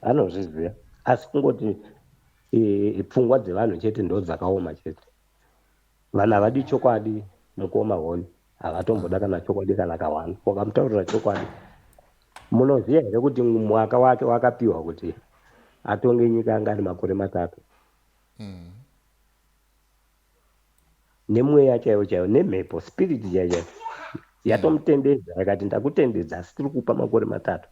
anozviziva asi kungoti e, pfungwa dzevanhu chete ndo dzakaoma chete vanhu havadi chokwadi mukoma honi havatomboda kana chokwadi kana kawani wakamutaurira chokwadi munoziva here kuti mwaka wake wakapiwa kuti atonge nyika anga ari makore matatu mm. nemweya chaiwo chaiwo nemhepo spirit chaiyo chaiyo yatomutendedza yakati ndakutendedza asi tiri kupa makore matatu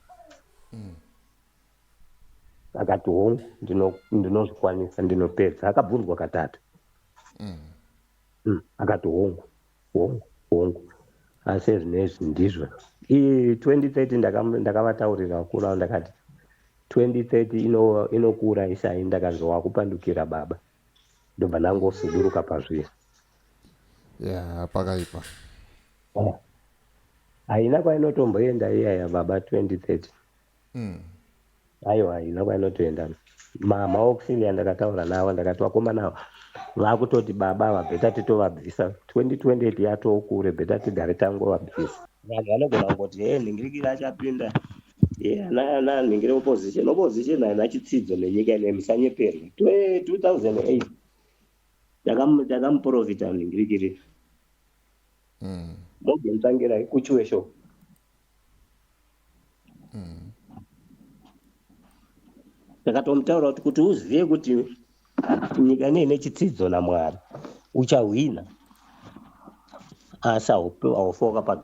akati hongu ndino- ndinozvikwanisa ndinopedza akabvunzwa katatu Mm, akati hongu hongu hongu asi ezvinezvi ndizvo iyi 2030 ndakam- ndakavataurira vakuru avo ndakati 2030 ino- inokura isai ndakanzi wakupandukira baba ndobva ndangosuduruka pazviya yeah pakaipa haina kwainotomboenda iyaya baba 2030 mm. aiwa haina kwainotoenda mama auxilia ndakataura navo ndakati vakomana ava vakutoti baba ava bheta titovabvisa 2028 yatoo kure bheta tigare tangovabvisa vanhu vanogona kungoti hee nhingirikiri achapinda ana anhengere opposition opposition haina chitsidzo nenyika ine musanyeperwe 2008 takamuprofita ningirikiri hmm. morgan tangira kuchiwe show hmm. ndakatomutaura kuti kuti uzive kuti nyika ine ine chitsidzo namwari uchahwina asi haufoka pa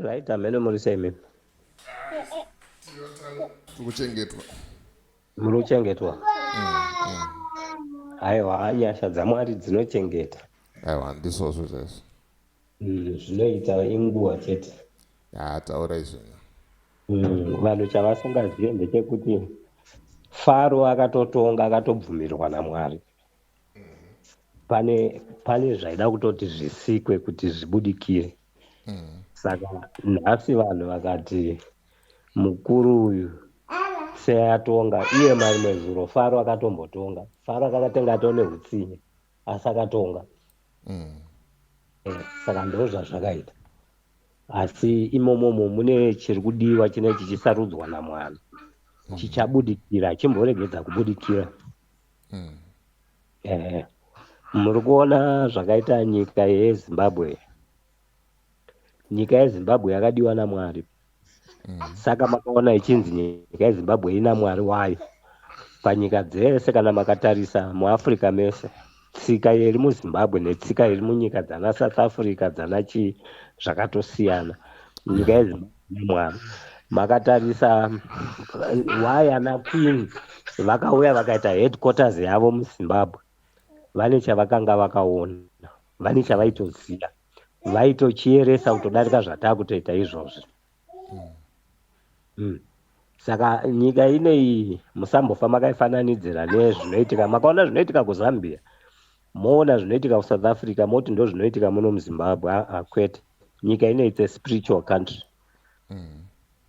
Right, ameno muri sei mimi? Tikuchengetwa. Muri kuchengetwa. Aiwa, nyasha dzaMwari dzinochengeta. Aiwa, ndizvo zvizvo. Mm, zvinoita inguva chete. Ah, taura izvo. Mm, vanhu chavasingazive ndechekuti Faro akatotonga akatobvumirwa naMwari. pane pane zvaida kutoti zvisikwe kuti zvibudikire mm. saka nhasi vanhu vakati mukuru uyu seatonga iye marimwe zuro faro akatombotonga faro akakatenga atoo neutsinye asi akatonga mm. eh, saka ndo zvazvakaita asi imomomo mune chiri kudiwa chine chichisarudzwa namwana mm. chichabudikira chimboregedza kubudikira mm. mm. eh, muri kuona zvakaita nyika yezimbabwe nyika yezimbabwe yakadiwa namwari mm. saka makaona ichinzi nyika yezimbabwe ina mwari wayo panyika dzese kana makatarisa muafrica mese tsika iri muzimbabwe netsika iri munyika dzana south africa dzana chii zvakatosiyana nyika yezimbabwe Mwari makatarisa why ana queen vakauya vakaita headquarters yavo muzimbabwe vane chavakanga vakaona vane chavaitoziva vaitochieresa kutodarika zvataa kutoita izvozvi mm. saka nyika ineyi musambofa makaifananidzira nezvinoitika makaona zvinoitika kuzambia Moona zvinoitika ku South Africa moti ndozvinoitika muno mu Zimbabwe aa kwete nyika ino it's a spiritual country mm.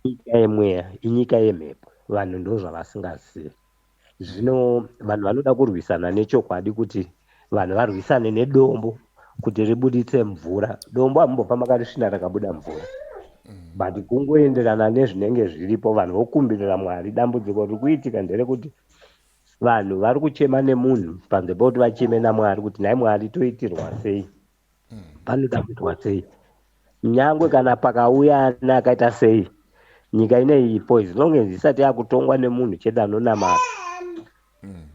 nyika yemweya inyika yemhepo vanhu ndozvavasingazivi zvino vanhu vanoda kurwisana nechokwadi kuti vanhu varwisane nedombo kuti ribuditse mvura dombo amumbofa makarisvina rakabuda mvura mm. but kungoenderana nezvinenge zviripo vanhu vokumbirira mwari dambudziko riri kuitika nderekuti vanhu vari kuchema nemunhu panze pekuti vacheme namwari kuti nhai mwari toitirwa sei panoda kuitwa sei nyangwe kana pakauya ana akaita sei nyika ineipo as long as isati yakutongwa nemunhu chete anonamata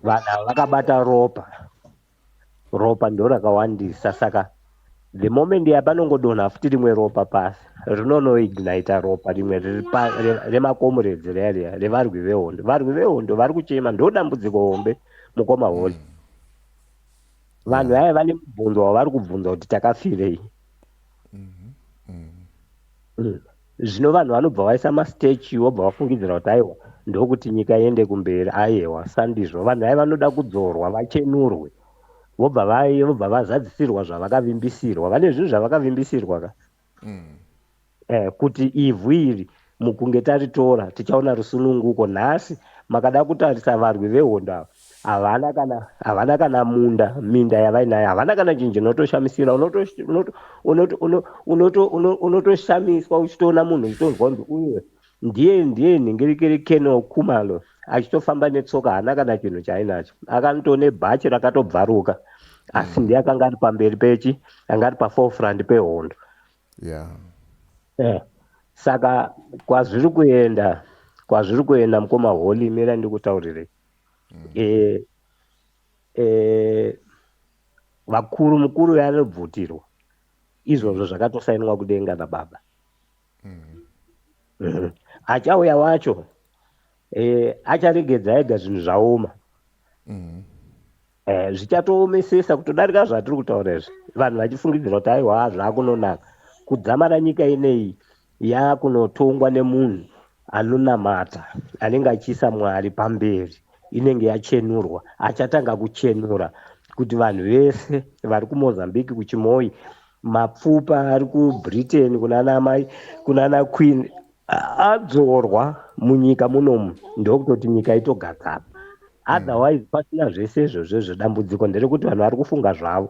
vanhu ava vakabata ropa Ropa ndorakawandisa saka the moment ya panongodonha futi rimwe ropa pasi rinonoignita ropa rimwe remakomuredzi riya riya revarwi vehondo varwi vehondo vari kuchema ndo dambudziko hombe mukoma holy mm. vanhu vaya vane mubvunzo wavari kubvunza kuti takafirei mm-hmm. mm-hmm. mm. Zvino vanhu vanobva vaisa mastatue vobva vafungidzira kuti aiwa ndokuti nyika iende kumberi ayewa sandizvo vanhu vaye vanoda kudzorwa vachenurwe vobva vaye vobva vazadzisirwa zvavakavimbisirwa vane zvinhu zvavakavimbisirwa ka mm. eh, kuti ivhu iri mukunge taritora tichaona rusununguko nhasi makada kutarisa varwi vehondo ava havana kana havana kana munda minda yavainayo havana kana chinhu chinotoshamisira unotoshamiswa uchitoona munhu uchitonzwa kunzi uye ndiye ndiye nhingirikiri keno kumalo achitofamba netsoka haana kana chinhu chaainacho akanto nebhachi rakatobvaruka asi mm. ndiye akanga ari pamberi pechi anga ari paforefront pehondo yeah. yeah. saka kwazviri kuenda kwazviri kuenda mukoma holy mira ndikutaurirei mm. eh, eh, vakuru mukuru yanobvutirwa izvozvo mm. zvakatosainwa kudenga nababa mm. mm. achauya wacho eh, acharegedza ega zvinhu zvaoma mm. Eh, zvichatoomesesa kutodarika zvatiri kutaura izvi vanhu vachifungidzira kuti aiwa zvakunonaka kudzamara nyika ineyi yakunotongwa nemunhu anonamata anenge achiisa mwari pamberi inenge yachenurwa achatanga kuchenura kuti vanhu vese vari kumozambique kuchimoi mapfupa ari kubritain kunana mai kunana queen adzorwa munyika munomu ndokutoti nyika itogadzana mm. otherwise pasina zvese izvozvo zvedambudziko nderekuti vanhu vari kufunga zvavo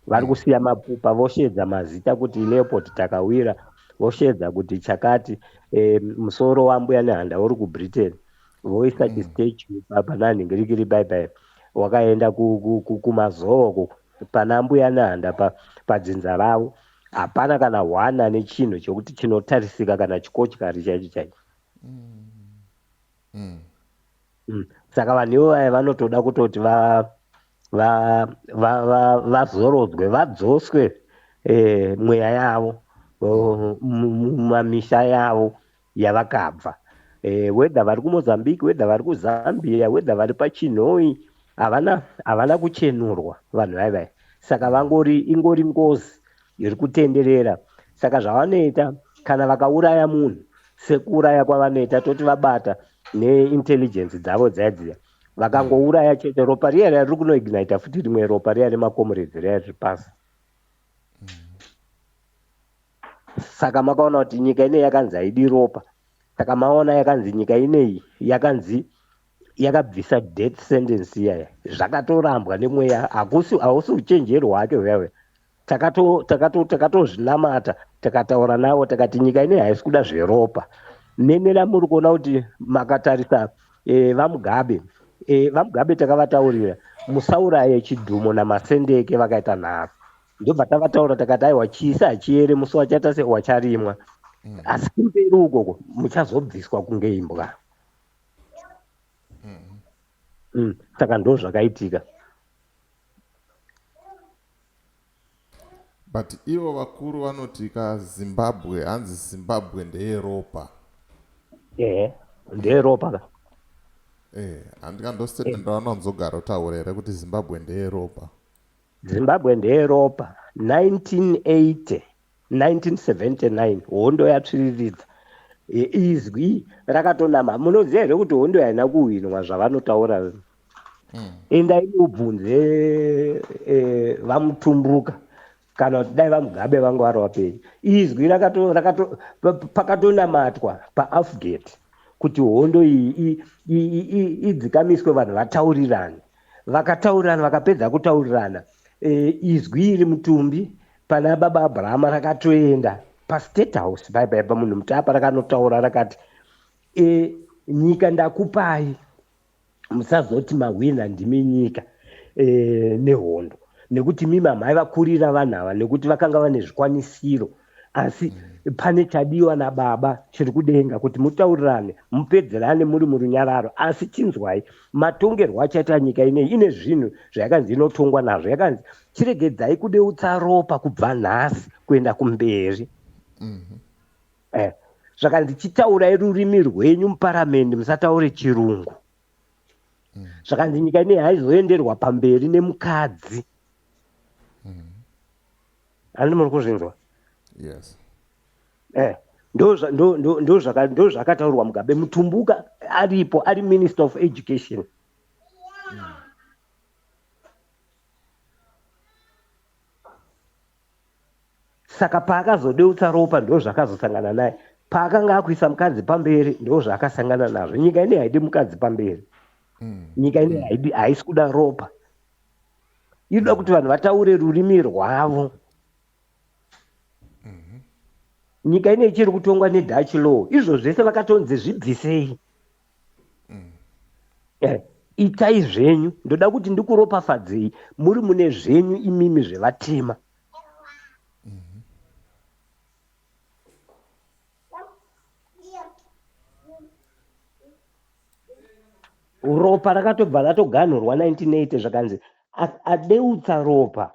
vari mm. kusiya mapupa vosheedza mazita kuti leoport takawira vosheedza kuti chakati e, musoro wambuya nehanda uri kubritain voisa mm. chistechu pananhingi rikiri baibai wakaenda kumazooko pana mbuya nehanda padzinza ravo Hapana kana one ane chinhu chokuti chinotarisika kana chikochikari chaicho chaicho. Mm. Mm. Saka vanhu ivo vaya vanotoda kutoti va va va va vazorodzwe vadzoswe eh, mweya yavo oh, mu- mu- mumamisha yavo yavakabva eh, whether vari kumozambique whether vari kuzambia whether vari pachinhoi havana havana kuchenurwa vanhu vai vai saka vangori ingori ngozi iri kutenderera saka zvavanoita kana vakauraya munhu sekuuraya kwavanoita toti vabata neintelligence dzavo dzaidziya vakangouraya chete ropa riya riya riri kunoignita futi rimwe ropa riya remakomurezi riya riri pasi Saka makaona kuti nyika ineyi yakanzi haidi ropa. Saka maona yakanzi nyika ineyi yakanzi yakabvisa death sentence iyaya. Zvakatorambwa nemweya hakusi hausi uchenjeri hwacho hwewe. Takato takato takatozvinamata takataura navo takati nyika ineyi haisi kuda zveropa. Nemi namuri kuona kuti makatarisa eh, vaMugabe eh, vaMugabe takavataurira musauraye Chidhumo naMasendeke vakaita nharo. ndobva tavataura takati aiwa chisi hachiere musi wachaita se wacharimwa mm. asi kumberi ukoko muchazobviswa kunge imbwa mm. mm. saka ndo zvakaitika but ivo vakuru vanoti ka zimbabwe hanzi zimbabwe ndeyeropa ehe ndeyeropa ka eh handikandosete eh. ndaona nzogaro taura here kuti zimbabwe ndeyeropa Zimbabwe ndeyeropa 1980 1979 hondo yatsviriridza izwi rakatonama munoziva here kuti hondo yaina kuhwinwa zvavanotaura mm. endai mubvunze e, vamutumbuka kana kuti dai vamugabe vanga vari vapenyu izwi pakatonamatwa paafgate kuti hondo iyi idzikamiswe vanhu vataurirane Vakataurirana, vakapedza kutaurirana e, izwi iri mutumbi pana baba Abrahama rakatoenda pastate house paipa ipa munhu mutapa rakanotaura rakati e, nyika ndakupai musazoti mahwina ndimi nyika e, nehondo nekuti mimi amai vakurira vanhu ava nekuti vakanga vane zvikwanisiro asi mm. pane chadiwa nababa chiri kudenga kuti mutaurirane mupedzerane muri murunyararo asi chinzwai matongerwo achaita nyika inei ine zvinhu zvayakanzi inotongwa nazvo yakanzi chiregedzai kudeutsa ropa kubva nhasi kuenda kumberi mm-hmm. eh, zvakanzi chitaurai rurimi rwenyu muparamendi musataure chirungu mm. zvakanzi nyika inei haizoenderwa pamberi nemukadzi mm. Ani muri kuzvinzwa? Yes. Eh, ndozvakataurwa mugabe mutumbuka aripo ari minister of education saka paakazodeutsa ropa ndozvakazosangana naye paakanga akuisa mukadzi pamberi ndozvaakasangana nazvo nyika ine haidi mukadzi pamberi mm. nyika ine haisi kuda ropa inoda kuti vanhu vataure rurimi rwavo mhm. nyika ine ichiri kutongwa nedutch law izvo zvese vakatonzi zvibvisei mm. eh, itai zvenyu ndoda kuti ndikuropafadzei muri mune zvenyu imimi zvevatema mhm. ropa rakatobva ratoganhurwa 1980 zvakanzi adeutsa ropa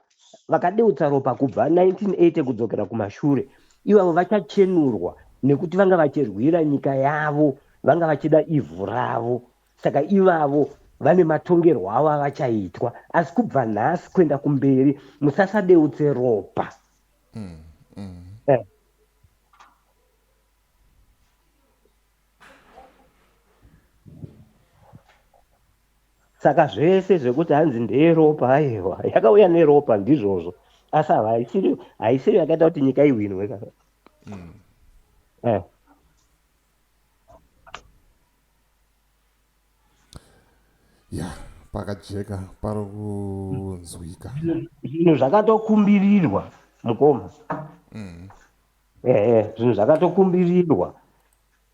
vakadeutsa ropa kubva 1980 kudzokera kumashure ivavo vachachenurwa nekuti vanga vachirwira nyika yavo vanga vachida ivhu ravo saka ivavo vane matongerwo avo avachaitwa asi kubva nhasi kuenda kumberi musasadeutse ropa mm, mm. Eh. saka zvese zvekuti hanzi ndeyeropa aiwa yakauya neropa ndizvozvo asi ava haisiri haisiri yakaita kuti nyika ihwinwe ka mm. eh. ya pakajeka pari kunzwika zvinhu zvakatokumbirirwa mukoma mm. Ehe zvinhu zvakatokumbirirwa.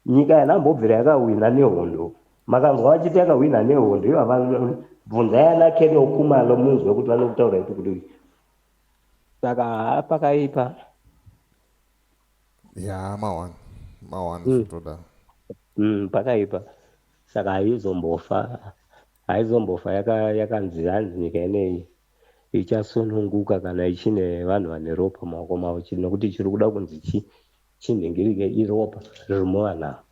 Nyika yanambobvira yakahwina nehondo. Makanzwa vachiti yakahwina nehondo ivava bvunzai ana Kennel Khumalo munzwe kuti vanokutaura kuti kuti saka haa pakaipa. Yaa mawani mawani Mm. zvitoda. Mm, pakaipa saka haizombofa haizombofa yaka- yakanzi hanzi nyika ineyi ichasununguka kana ichine vanhu vane ropa mumaoko mavo chete nokuti chiri kuda kunzi chi chinhingirike iropa riri muvanhu ava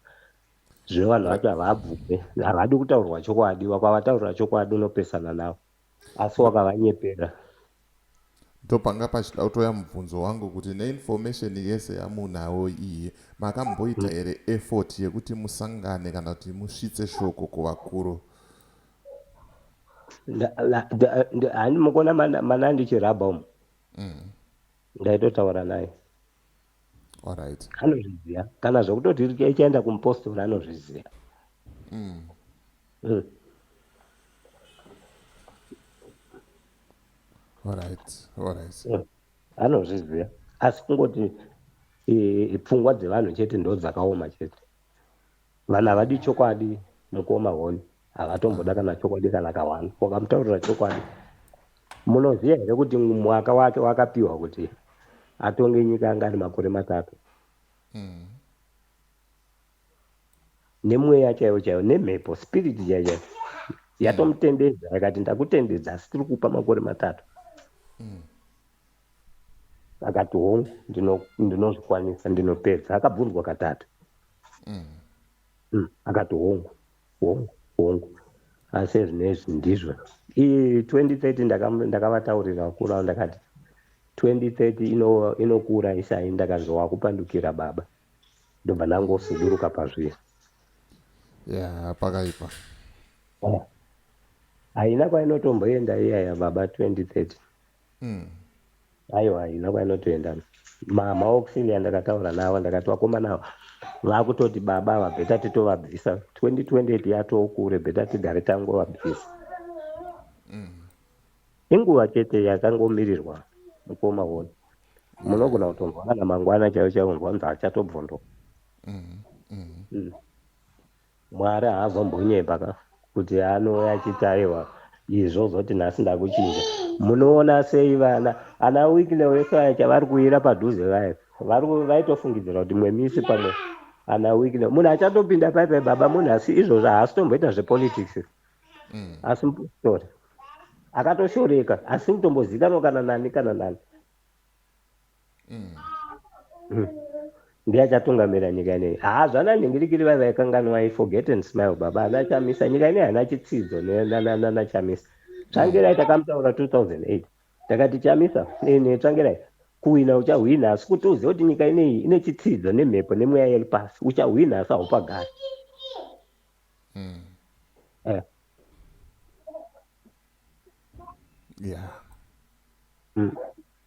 zvino vanhu vacho havabvume havadi kutaurwa chokwadi wakavataurira chokwadi unopesana navo asi wakavanyepera ndopanga pachida kutoya mubvunzo wangu kuti neinformation yese yamunawo iyi makamboita here effort yekuti musangane kana kuti musvitse shoko kuvakuru hani mukuona mana ndichirabha umu mm. ndaitotaura naye right. anozviziva kana zvekutoti ichaenda kumupostora anozviziva mm. mm. right. right. mm. anozviziva asi kungoti pfungwa dzevanhu chete ndo dzakaoma chete Vanhu havadi chokwadi mukoma honi havatomboda kana chokwadi kana ka one wakamutaurira chokwadi munoziva here kuti mwaka wake wakapiwa kuti atonge nyika anga ari makore matatu mm. nemweya chaiyo chaiyo nemhepo spirit chaiyo chaiyo yatomutendedza yakati ndakutendedza asi tiri kupa makore matatu mm. akati hongu ndinozvikwanisa ndinopedza akabvunzwa katatu mm. mm. akati hongu hongu hongu asi ezvinezvi ndizvo ii 2030 ndakavataurira ndaka vakuru avo ndakati 2030 inokura ino isai ndakanzi wakupandukira baba ndobva ndangosuduruka pazviya ya pakaipa haina kwainotomboenda iyaya baba 2030 Mm. Aiwa haina kwainotoenda. Ma maauxilia ndakataura nawo ndakati vakomana ava vakutoti baba ava beta titovabvisa 2028 yatoo kure beta tigare tangovabvisa. Inguva chete yakangomirirwa mukoma wona. Munogona kutonzwa kana mangwana chaiwo chaiwo unzwa kunzi achatobvondoka. Mm. Mwari haazombonyepa ka kuti anouya achitarirwa izvi ozoti nhasi ndakuchinja. Munoona sei vana ana Wicknell vese vaya chavari kuuira padhuze vaya vari vaitofungidzira kuti imwe misi pamwe ana Wicknell munhu achatopinda pai pai baba munhu asi izvozvo haasi tomboita zvepolitics asi mupositori akatoshoreka asi mutombozikanwa kana nani kana nani. ndiye achatungamira nyika ineyi haa zvana nhingirikiri vai vaikanganwai forget and smile baba ana chamisa nyika ineyi hana chitsidzo nana chamisa tsvangirai takamutaura 2008 takati chamisa ne tsvangirai kuhwina uchahwina asi kuti uzive kuti nyika ineyi ine chitsidzo nemhepo nemweya yeri pasi uchahwina asi haupagari mm. eh. yeah. mm.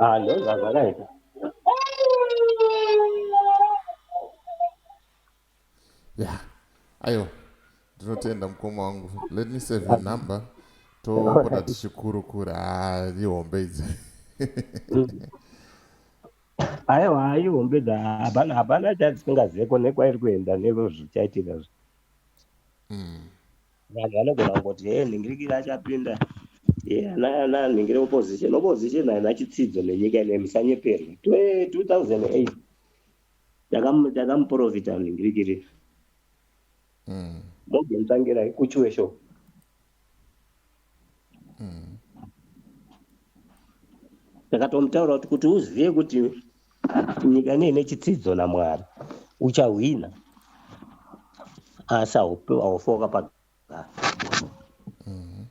Ah, no, that's all right. Yeah. Ayo. Ndinotenda mukoma wangu. Let me save your number. Topota tichikurukura ah, ihombe idzi. Aiwa, ihombe dza hapana hapana chatisingazive ko nekwairi kuenda neko zvichaitika zvi. Mm. vanhu vanogona kungoti he nhingirikiri achapinda ana nhingiri opposition opposition haina chitsidzo nenyika ine musanyeperwe 2008 takamuprofita nhingirikiri hmm. morgan tangira kuchuwe sho hmm. takatomutaura kuti kuti uzive kuti nyika nei nechitsidzo namwari uchahwina asi haufi wakapagara mhm.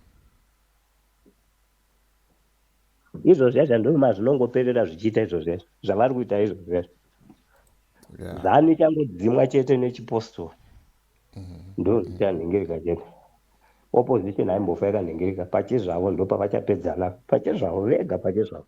izvozvi zvacho ndoma zvinongoperera zvichiita izvozvi zvacho zvavari kuita izvozvi zvacho zanu ichangodzimwa chete nechipostori mhm. ndo zvichanhengereka chete opposition haimbofa yakanhengereka pachezvavo ndopavachapedzana pachezvavo vega pachezvavo